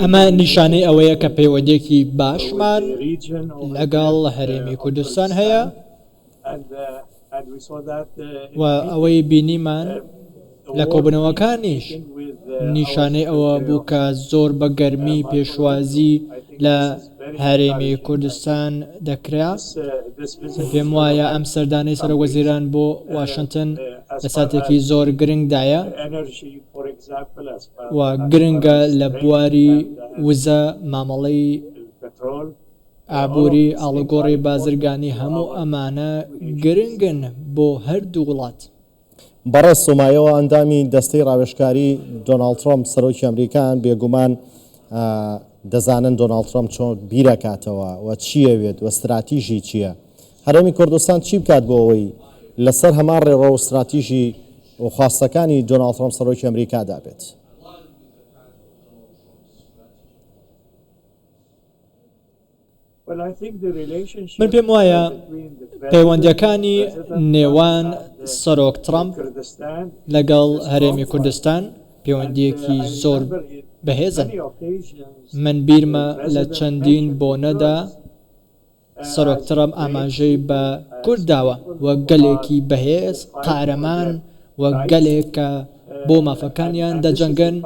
ئەمە نیشانەی ئەوەیە کە پەیوەندییەکی باشمان لەگەڵ هەرێمی کوردستان هەیە و ئەوەی بینیمان لە کۆبنەوەکانیش نیشانەی ئەوە بوو کە زۆر بە گەرمی پێشوازی لە هەرێمی کوردستان دەکرا. پێم وایە ئەم سەردانەی سەرۆک وەزیران بۆ واشنتن لە ساتێکی زۆر گرنگدایە و گرنگە لە بواری وزە، مامەڵەی ئابووری، ئاڵوگۆڕی بازرگانی، هەموو ئەمانە گرنگن بۆ هەردوو وڵات. بەڕێز سۆمایۆ ئەندامی دەستەی ڕاوێژکاری دۆناڵد ترەمپ سەرۆکی ئەمریکان بێگومان دەزانن دۆناڵد ترەمپ چۆن بیرەکاتەوە و چیەوێت و ستراتیژی چییە هەرێمی کوردستان چی بکات بۆ ئەوەی لەسەر هەمان ڕێڕۆ و ستراتیژی و خواستەکانی دۆناڵد ترەمپ سەرۆکی ئەمریکا دابێت. من پێم وایە پەیوەندییەکانی نێوان سەرۆک ترەمپ لەگەڵ هەرێمی کوردستان پەیوەندییەکی زۆر بەهێزن. من بیرمە لە چەندین بۆنەدا سەرۆک ترەمپ ئاماژەی بە کورد داوە وەک گەلێکی بەهێز، قارەمان، وەک گەلێک کە بۆ مافەکانیان دەجەنگن.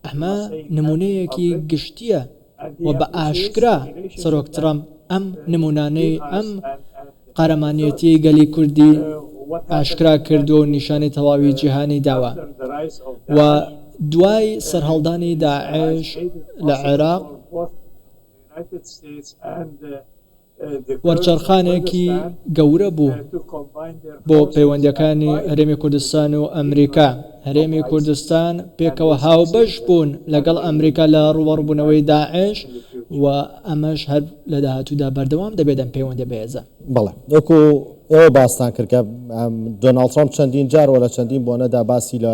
ئەمە نموونەیەکی گشتییە و بە ئاشکرا سەرۆک ترەمپ ئەم نموونانەی ئەم قارەمانیەتیەی گەلی کوردی ئاشکرا کردووە و نیشانی تەواوی جیهانی داوە و دوای سەرهەڵدانی داعش لە عێراق، وەرچەرخانێکی گەورە بوو بۆ پەیوەندیەکانی هەرێمی کوردستان و ئەمریکا هەرێمی کوردستان پێکەوە هاوبەش بوون لەگەڵ ئەمریکا لە ڕووەڕبوونەوەی داعش و ئەمەش هەر لە داهاتوودا بەردەوام دەبێت ئەم پەیوەندە بەێزە بەڵێ وەکو ئێوە باستان کرد کە دۆناڵد ترامپ چەندین جار وە لە چەندین بۆنەدا باسی لە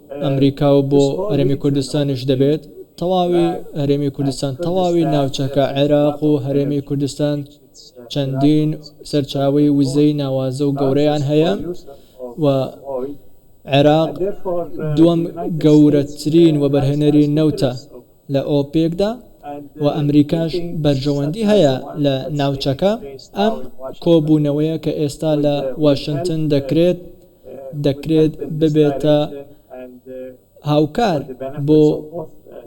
ئەمریکا و بۆ هەرێمی کوردستانیش دەبێت تەواوی هەرێمی کوردستان تەواوی ناوچەکە عێراق و هەرێمی کوردستان چەندین سەرچاوەی وزەی ناوازە و گەورەیان هەیە و عێراق دووەم گەورەترین وەبەرهێنەری نەوتە لە ئۆپێکدا و ئەمریکاش بەرژەوەندی هەیە لە ناوچەکە ئەم کۆبوونەوەیە کە ئێستا لە واشنتن دەکرێت دەکرێت ببێتە هاوکار بۆ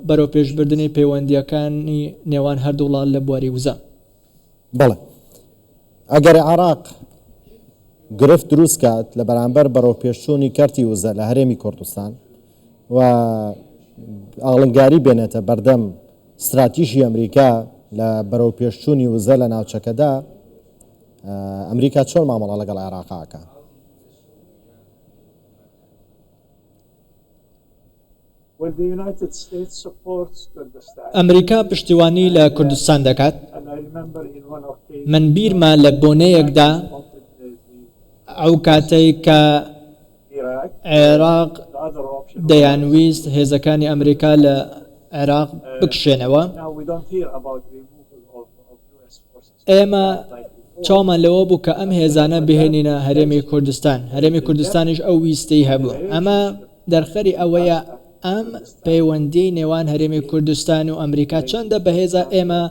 بەرەوپێشبردنی پەیوەندییەکانی نێوان هەردوو وڵات لە بواری وزە. بەڵێ. ئەگەر عێراق گرفت دروست بکات لە بەرامبەر بەرەوپێشچوونی کەرتی وزە لە هەرێمی کوردستان و ئاڵنگاری بێنێتە بەردەم ستراتیژی ئەمریکا لە بەرەوپێشچوونی وزە لە ناوچەکەدا، ئەمریکا چۆن مامەڵە لەگەڵ عێراق ئەکا؟ ئەمریکا پشتیوانی لە کوردستان دەکات؟ من بیرمە لە بۆنەیەکدا ئەوکاتەی کە عێراق دەیانویست هێزەکانی ئەمریکا لە عێراق بکشێنەوە، ئێمە چاومان لەوە بوو کە ئەم هێزانە بهێنینە هەرێمی کوردستان، هەرێمی کوردستانیش ئەو ویستەی هەبوو. ئەمە دەرخەری ئەوەیە ئەم پەیوەندیەی نێوان هەرێمی کوردستان و ئەمریکا چەندە بەهێزە، ئێمە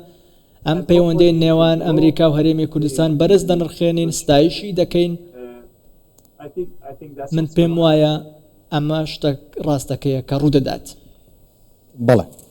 ئەم پەیوەندیەی نێوان ئەمریکا و هەرێمی کوردستان بەرز دەنرخێنین، ستایشی دەکەین، من پێموایە ئەمە شتە ڕاستەکەیە کە ڕوودەدات. بەڵێ.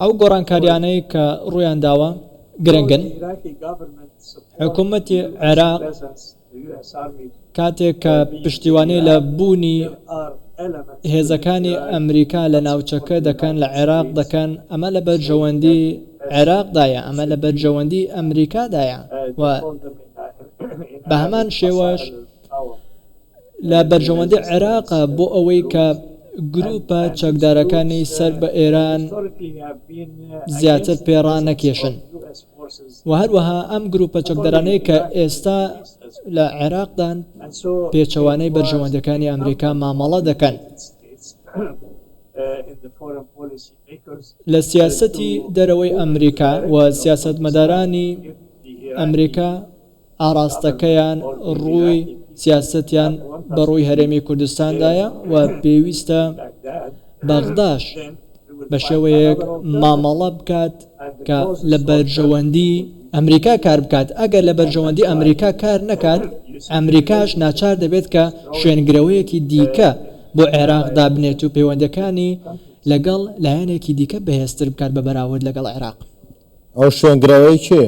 ئەو گۆڕانکارییانەی کە ڕوویان داوە گرنگن. حکومەتی عێراق کاتێک کە پشتیوانی لە بوونی هێزەکانی ئەمریکا لە ناوچەکە دەکەن، لە عێراق دەکەن، ئەمە لە بەرژەوەندیی عێراقدایە، ئەمە لە بەرژەوەندیی ئەمریکادایە و بە هەمان شێوەش، لە بەرژەوەندی عێراقە بۆ ئەوەی کە گرووپە چەکدارەکانی سەر بە ئێران زیاتر پێ ڕانەکێشن و هەروەها ئەم گرووپە چەکدارانەی کە ئێستا لە عێراقدان پێچەوانەی بەرژەوەندەکانی ئەمریکا مامەڵە دەکەن. لە سیاسەتی دەرەوەی ئەمریکا و سیاسەتمەدارانی ئەمریکا ئاراستەکەیان ڕووی سیاسەتیان بە ڕووی هەرێمی کوردستاندایە و پێویستە بەغداش بە شێوەیەک مامەڵە بکات کە لە بەرژەوەندی ئەمریکا کار بکات ئەگەر لە بەرژەوەندی ئەمریکا کار نەکات ئەمریکاش ناچار دەبێت کە شوێنگرەوەیەکی دیکە بۆ عێراق دابنێت و پەیوەندەکانی لەگەڵ لایەنێکی دیکە بەهێزتر بکات بە بەراورد لەگەڵ عێراق ئەو شوێنگرەوەی کێ؟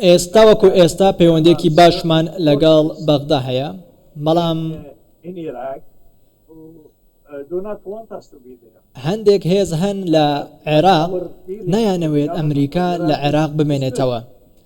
ئێستا وەکو ئێستا پەیوەندیەکی باشمان لەگەڵ بەغدا هەیە بەڵام هەندێک هێز هەن لە عێراق نایانەوێت ئەمریکا لە عێراق بمێنێتەوە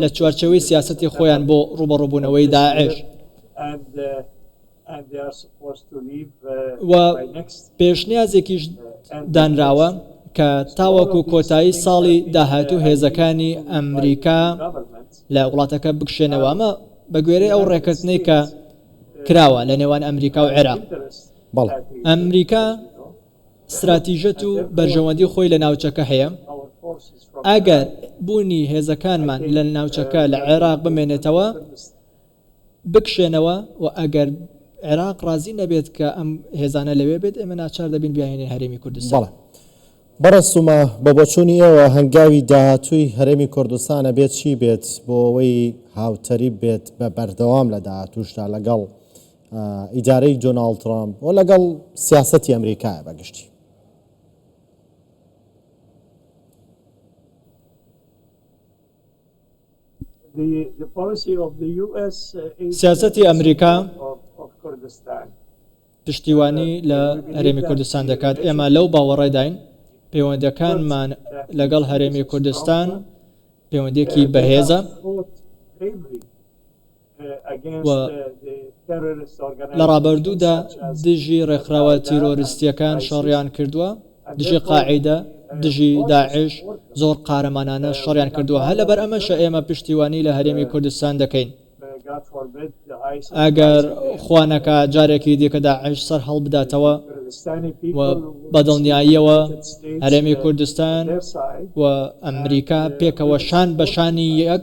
لە چوارچێوەی سیاسەتی خۆیان بۆ ڕووبەڕووبوونەوەی داعش و پێشنیازێکیش دانراوە کە تاوەکو کۆتایی ساڵی داهاتوو هێزەکانی ئەمریکا لە وڵاتەکە بکشێنەوە ئەمە بە گوێرەی ئەو ڕێککەتنەی کە کراوە لە نێوان ئەمریکا و عێراق بەڵێ ئەمریکا ستراتیژەت و بەرژەوەندی خۆی لە ناوچەکە هەیە، ئەگەر بوونی هێزەکانمان لە ناوچەکە لە عێراق بمێنێتەوە بکشێنەوە و ئەگەر عێراق ڕازی نەبێت کە ئەم هێزانە لەوێ بێت ئێمە ناچار دەبین بیانهێنین هەرێمی کوردستان. بەڕێز سوما، بە بۆچوونی ئێوە هەنگاوی داهاتووی هەرێمی کوردستان ئەبێت چی بێت بۆ ئەوەی هاوتەریب بێت بە بەردەوام لە داهاتووشدا لەگەڵ ئیدارەی دۆناڵد تڕامپ و لەگەڵ سیاسەتی ئەمریکایە بە گشتی. سیاسەتی ئەمریکا پشتیوانی لە هەرێمی کوردستان دەکات، ئێمە لەو باوەڕەداین پەیوەندەکانمان لەگەڵ هەرێمی کوردستان پەیوەندێکی بەهێزە. و لە ڕابەردوودا دژی ڕێکخراوە تیرۆریستییەکان شەڕیان کردووە، دژی قاعیدە، دژی داعش زۆر قارەمانانە شەڕیان کردووە، هەر لەبەر ئەمەشە ئێمە پشتیوانی لە هەرێمی کوردستان دەکەین. ئەگەر خوا نەکا جارێکی دیکە داعش سەرهەڵبداتەوە و بە دڵنیاییەوە هەرێمی کوردستان و ئەمریکا پێکەوە شان بە شانی یەک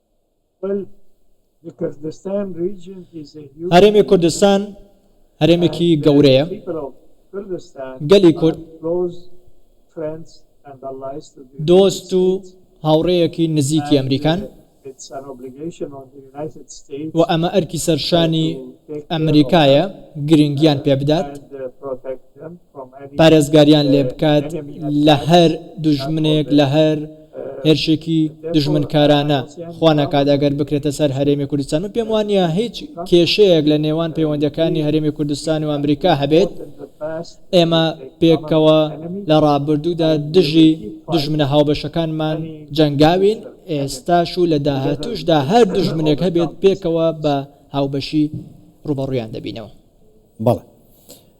هەرێمی کوردستان هەرێمێکی گەورەیە، گەلی کورد دۆست و هاوڕێیەکی نزیکی ئەمریکان و ئەمە ئەرکی سەرشانی ئەمریکایە گرنگیان پێبدات. پارێزگاریان لێ بکات لە هەر دوژمنێک لە هەر هێرشێکی دوژمنکارانە خوا نەکات ئەگەر بکرێتە سەر هەرێمی کوردستان من پێم وانە هیچ کێشەیەک لە نێوان پەیوەندەکانی هەرێمی کوردستان و ئەمریکا هەبێت ئێمە پێکەوە لە ڕابردوودا دژی دژمنە هاوبەشەکانمان جەنگاوین ئێستاش و لە داهاتوشدا هەر دژمنێک هەبێت پێکەوە بە هاوبەشی ڕوبەڕویان دەبینەوە بەڵێ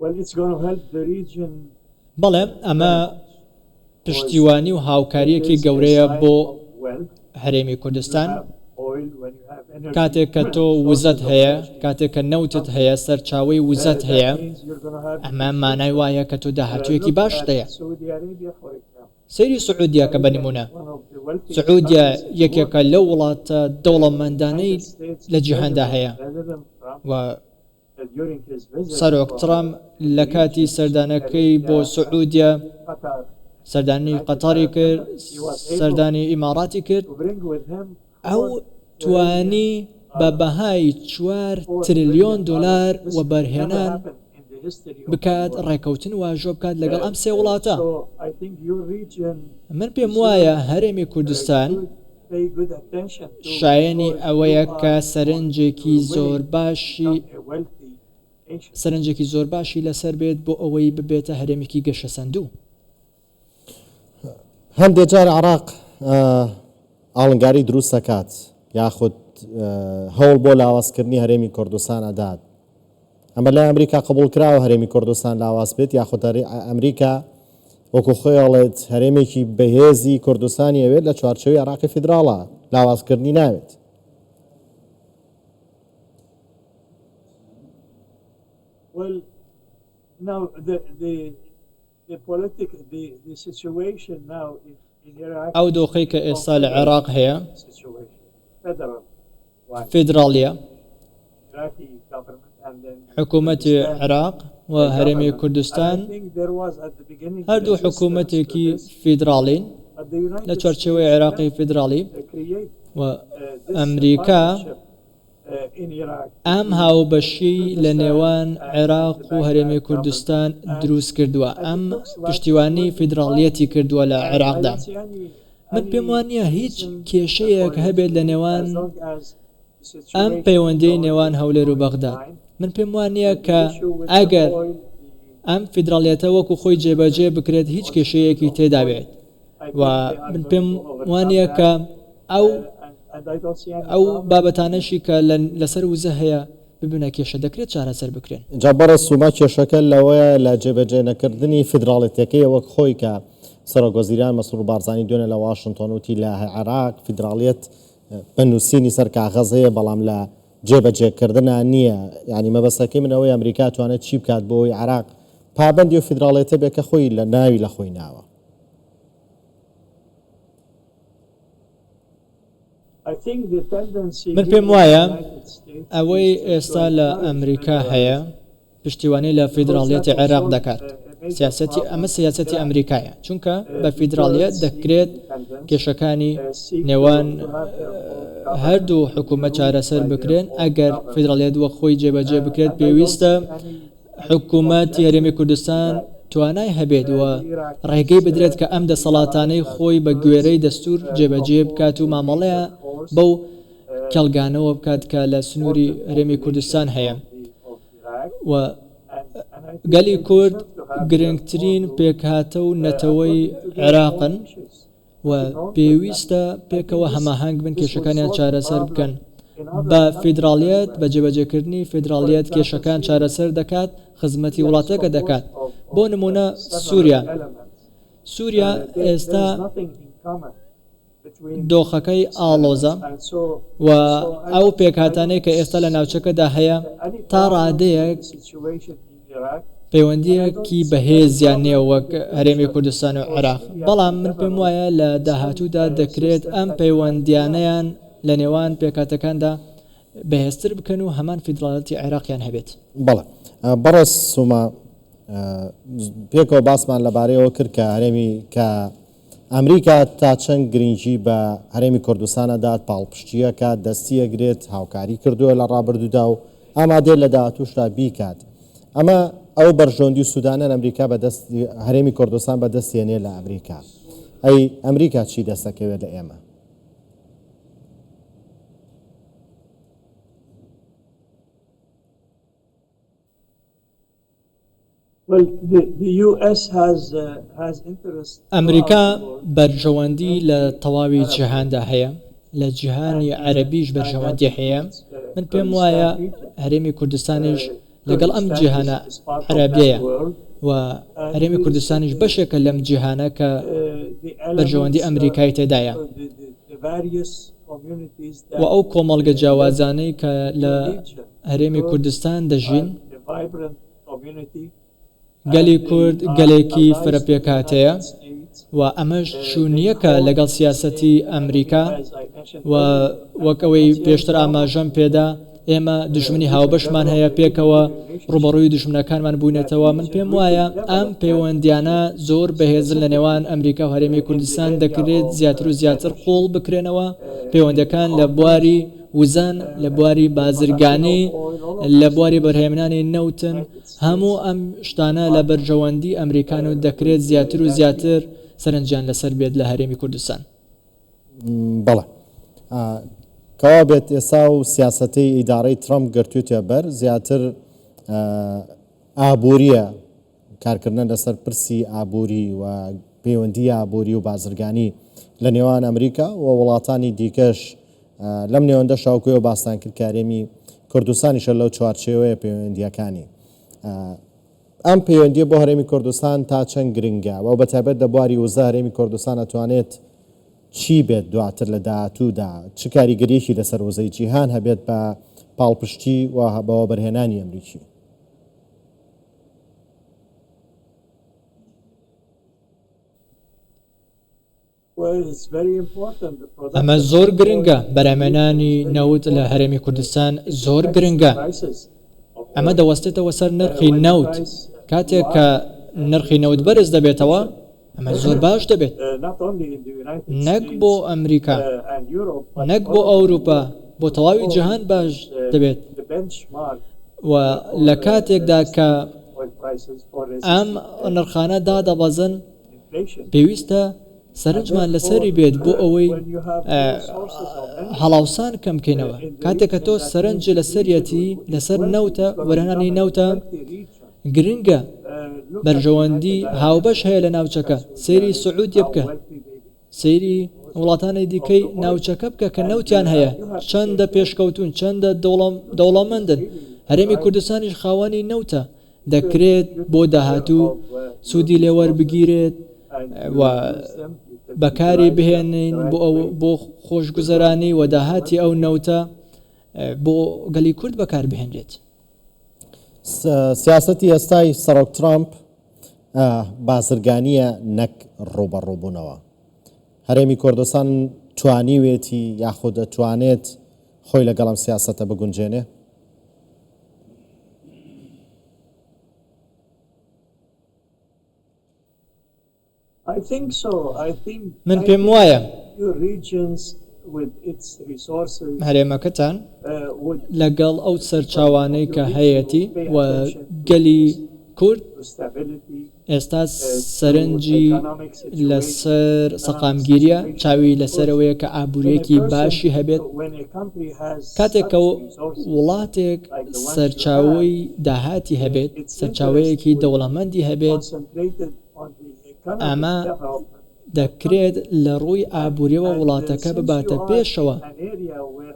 Well it's gonna help the region very much. بەڵێ ئەمە پشتیوانی و هاوکارییەکی گەورەیە بۆ هەرێمی کوردستان، کاتێک کە تۆ وزەت هەیە، کاتێک کە نەوتت هەیە، سەرچاوەی وزەت هەیە، ئەمە مانای وایە کە تۆ داهاتوویەکی باشت هەیە. سەیری سعودیە کە بە نموونە. سعودیە یەکێکە لەو وڵاتە دەوڵەمەندانەی لە جیهاندا هەیە و. سەرۆک تڕەمپ لە کاتی سەردانەکەی بۆ سعودیە سەردانی قەتەڕی کرد، سەردانی ئیماڕاتی کرد، ئەو توانی بە بەهای چوار ترلیۆن دۆلار وەبەرهێنان بکات ڕێکەوتن واژۆ بکات لەگەڵ ئەم سێ وڵاتە. من پێم وایە هەرێمی کوردستان شایەنی ئەوەیە کە سەرنجێکی زۆرباشی لەسەر بێت بۆ ئەوەی ببێتە هەرێمێکی گەشەسەندوو. هەندێک جار عێراق ئاڵنگاری دروست دەکات یاخود هەوڵ بۆ لاوازکردنی هەرێمی کوردستان ئەدات، ئەمە لای ئەمریکا قبوڵ کراوە هەرێمی کوردستان لاواز بێت یاخود ئەمریکا وەکو خۆی ئەڵێت هەرێمێکی بەهێزی کوردستانی ئەوێت لە چوارچێوی عێراقی فیدراڵا لاوازکردنی ناوێت Well, now the, the ئەو دۆخەی کە ئێستا لە عێراق هەیە فیدراڵییە، حکوومەتی عێراق و هەرێمی کوردستان هەردوو حکوومەتێکی فیدراڵین لە چوارچێوەی عێراقی فیدراڵی و ئەمریکا، ئەم هاوبەشیی لە نێوان عێراق و هەرێمی کوردستان دروست کردووە، ئەم پشتیوانی فیدراڵیەتی کردووە لە عێراقدا. من پێم وا نییە هیچ کێشەیەک هەبێت لە نێوان ئەم پەیوەندییەی نێوان هەولێر و بەغداد. من پێم وا نییە کە ئەگەر ئەم فیدراڵیەتە وەکو خۆی جێبەجێ بکرێت هیچ کێشەیەکی تێدا بێت. و من پێم وانیە کە ئەو ئەو بابەتانەشی کە لەسەر وزە هەیە ببنە کێشە دەکرێت چارەسەر بکرێن. جا بەڕێز سوما کێشەکە لەوەیە لە جێبەجێ نەکردنی فیدراڵێتەکەیە وەک خۆی کە سەرۆک وەزیران مەسرور بارزانی دوێنێ لە واشنتۆن وتی لە عێراق فیدراڵیەت بە نوسینی سەر کاغەز هەیە بەڵام لە جێبەجێ کردنا نیە یانی مەبەستەکەی من ئەوەی ئەمریکا توانێت چی بکات بۆ ئەوەی عێراق پابەندی ئەو فیدراڵێتە بێ کە خۆی لە ناوی لە خۆی ناوە. من پێم وایە ئەوەی ئێستا لە ئەمریکا هەیە پشتیوانی لە فیدراڵیەتی عێراق دەکات سیاستی ئەمە سیاستی ئەمریکایە چونکە بە فیدراڵیەت دەکرێت کێشەکانی نێوان هەردوو حکوومە چارەسەر بکرێن ئەگەر فیدراڵێت وە خۆی جێبەجێ بکرێت پێویستە حکومەت هەرێمی کوردستان توانای هەبێت و ڕێگەی بدرێت کە ئەم دەسەڵاتانەی خۆی بە گوێرەی دەستوور جێبەجێ بکات و مامەڵەیان بەو کێڵگانەوە بکات کە لە سنووری هەرێمی کوردستان هەیە و گەلی کورد گرنگترین پێکهاتە و نەتەوەی عێراقن. و پێویستە پێکەوە هەماهەنگ بن کێشەکانیان چارەسەر بکەن بە فیدراڵیەت بە جێبەجێکردنی فیدراڵیەت کێشەکان چارەسەر دەکات خزمەتی وڵاتەکە دەکات بۆ نمونە سوریا سوریا ئێستا دۆخەکەی ئاڵۆزە و ئەو پێکهاتانەی کە ئێستا لە ناوچەکەدا هەیە تا ڕادەیەک پەیوەندییەکی بەهێزیان نییە وەک هەرێمی کوردستان و عێراق، بەڵام من پێم وایە لە داهاتوودا دەکرێت ئەم پەیوەندییانەیان لە نێوان پێکهاتەکاندا بەهێزتر بکەن و هەمان فیدراڵیەتی عێراقیان هەبێت. بەڵێ بەڕێز سۆما، پێکەوە باسمان لەبارەی ئەوە کرد کە هەرێمی کە، ئەمریکا تا چەند گرنگی بە هەرێمی کوردستان ئەدات، پاڵپشتییەکە دەستی ئەگرێت، هاوکاری کردووە لە ڕابردوودا و ئامادەیە لە داهاتووشدا بیکات. ئەمە ئەو بەرژەوەندی و سوودانەن ئەمریکا بە دەست هەرێمی کوردستان بە دەست دێنێت لە ئەمریکا. ئەی ئەمریکا چی دەست ئەکەوێت لە ئێمە؟ ئەمریکا بەرژەوەندی لە تەواوی جیهاندا هەیە، لە جیهانی عەرەبیش بەرژەوەندی هەیە، من پێم وایە هەرێمی کوردستانیش لەگەڵ ئەم جیهانە عەرەبیەیە و هەرێمی کوردستانیش بەشێکە لەم جیهانە کە بەرژەوەندی ئەمریکای تێدایە و ئەو کۆمەڵگە جیاوازانەی کە لە هەرێمی کوردستان دەژین. گەلی کورد گەلێکی فرە پێکهاتەیە و ئەمەش شونیەکە لەگەڵ سیاسەتی ئەمریکا و وەک ئەوەی پێشتر ئاماژەم پێدا ئێمە دژمنی هاوبەشمان هەیە پێکەوە ڕوبەڕوی دژمنەکانمان بوینەتەوە من پێم وایە ئەم پەیوەندیانە زۆر بەهێزن لە نێوان ئەمریکا و هەرێمی کوردستان دەکرێت زیاتر و زیاتر قوڵ بکرێنەوە پەیوەندەکان لە بواری وزەن، لە بواری بازرگانی، لە بواری بەرهەمێنانی نەوتن، هەموو ئەم شتانە لە بەرژەوەندی ئەمریکان و دەکرێت زیاتر و زیاتر سەرنجیان لەسەر بێت لە هەرێمی کوردستان. بەڵێ. کەوا بێت ئێستا و سیاسەتەی ئیدارەی ترەمپ گرتوویتە بەر زیاتر ئابوورییە کارکردنە لەسەر پرسی ئابووری و پەیوەندییە ئابووری و بازرگانی لە نێوان ئەمریکا و وڵاتانی دیکەش لەم نێوەندە شاوکوێ و باستان کرد کە هەرێمی کوردستانیشە لەو چوارچێوەیە پەیوەندییەکانی ئەم پەیوەندیە بۆ هەرێمی کوردستان تا چەند گرنگە و بەتابەت لە بواری وزە هەرێمی کوردستان ئەتوانێت چی بێت دواتر لە داهاتوودا چ کاریگەریەکی لەسەر وزەی جیهان هەبێت بە پاڵپشتی و بەوە بەرهێنانی ئەمریکی ئەمە زۆر گرنگە، بەرهەمێنانی نەوت لە هەرێمی کوردستان زۆر گرنگە، ئەمە دەوەستێتەوە سەر نرخی نەوت، کاتێک کە نرخی نەوت بەرز دەبێتەوە، ئەمە زۆر باش دەبێت نەک بۆ ئەمریکا نەک بۆ ئەوروپا بۆ تەواوی جیهان باش دەبێت و لە کاتێکدا کە ئەم نرخانە دادەبەزن پێویستە سەرنجمان لەسەری بێت بۆ ئەوەی هەڵاوسان کەم بکەینەوە کاتێک کە تۆ سەرنج لەسەریەتی لەسەر نەوتە وەرهێنانی نەوتە گرنگە بەرژەوەندی هاوبەش هەیە لە ناوچەکە، سەیری سعودیە بکە، سەیری وڵاتانی دیکەی ناوچەکە بکە کە نەوتیان هەیە چەندە پێشکەوتوون چەندە دەوڵەمەندن، هەرێمی کوردستانیش خاوەنی نەوتە، دەکرێت بۆ داهاتوو سوودی لێ وەربگیرێت و بەکاری بهێنین بۆ خۆشگوزەرانی و داهاتی ئەو نەوتە بۆ گەلی کورد بەکاربهێنرێت. سیاسەتی ئێستای سەرۆک ترامپ بازرگانیە نەک ڕوبەڕوبوونەوە هەرێمی کۆردستان توانیوێتی یاخود دەتوانێت خۆی لەگەڵم سیاسەتە بگونجێنێ من پێم وایە هەرێمەکەتان لەگەڵ ئەو سەرچاوانەی کە هەیەتی و گەلی کورد ئێستا سەرنجی لەسەر سەقامگیریە، چاوی لەسەرەوەیە کە ئابووریەکی باشی هەبێت. کاتێک کە وڵاتێک سەرچاوەی داهاتی هەبێت، سەرچاوەیەکی دەوڵەمەندی هەبێت، ئەمە دەکرێت لە ڕووی ئابووریەوە وڵاتەکە بباتە پێشەوە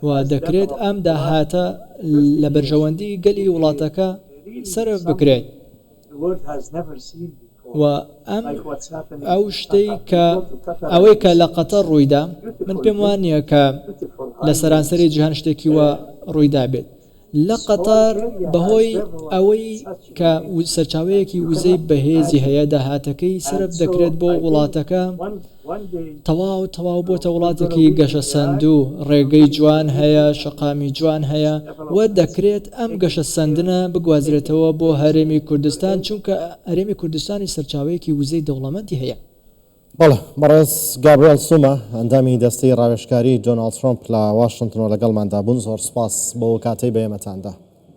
و دەکرێت ئەم داهاتە لە بەرژەوەندی گەلی وڵاتەکە سەرف بکرێت و ئەم ئەو شتەی کە ئەوەی کە لە قەتە ڕوویدا من پێم وانە کە لە سەرانسەری جیهان شتێکی وە ڕوویدا بێت لە قەتەر بەهۆی ئەوەی کە سەرچاوەیەکی وزەی بەهێزی هەیە داهاتەکەی سەرف دەکرێت بۆ وڵاتەکە تەواو تەواو بۆتە وڵاتێکی گەشەسەندوو ڕێگەی جوان هەیە شەقامی جوان هەیە و دەکرێت ئەم گەشەسەندنە بگوازرێتەوە بۆ هەرێمی کوردستان چونکە هەرێمی کوردستانی سەرچاوەیەکی وزەی دەوڵەمەندی هەیە. بەڵێ بەڕێز گابریێل سوما ئەندامی دەستەی ڕاوێشکاری دۆناڵد ترۆمپ لە واشنتنەوە لەگەڵماندا بوون زۆر سپاس بۆ کاتەی بە ئێمەتاندا.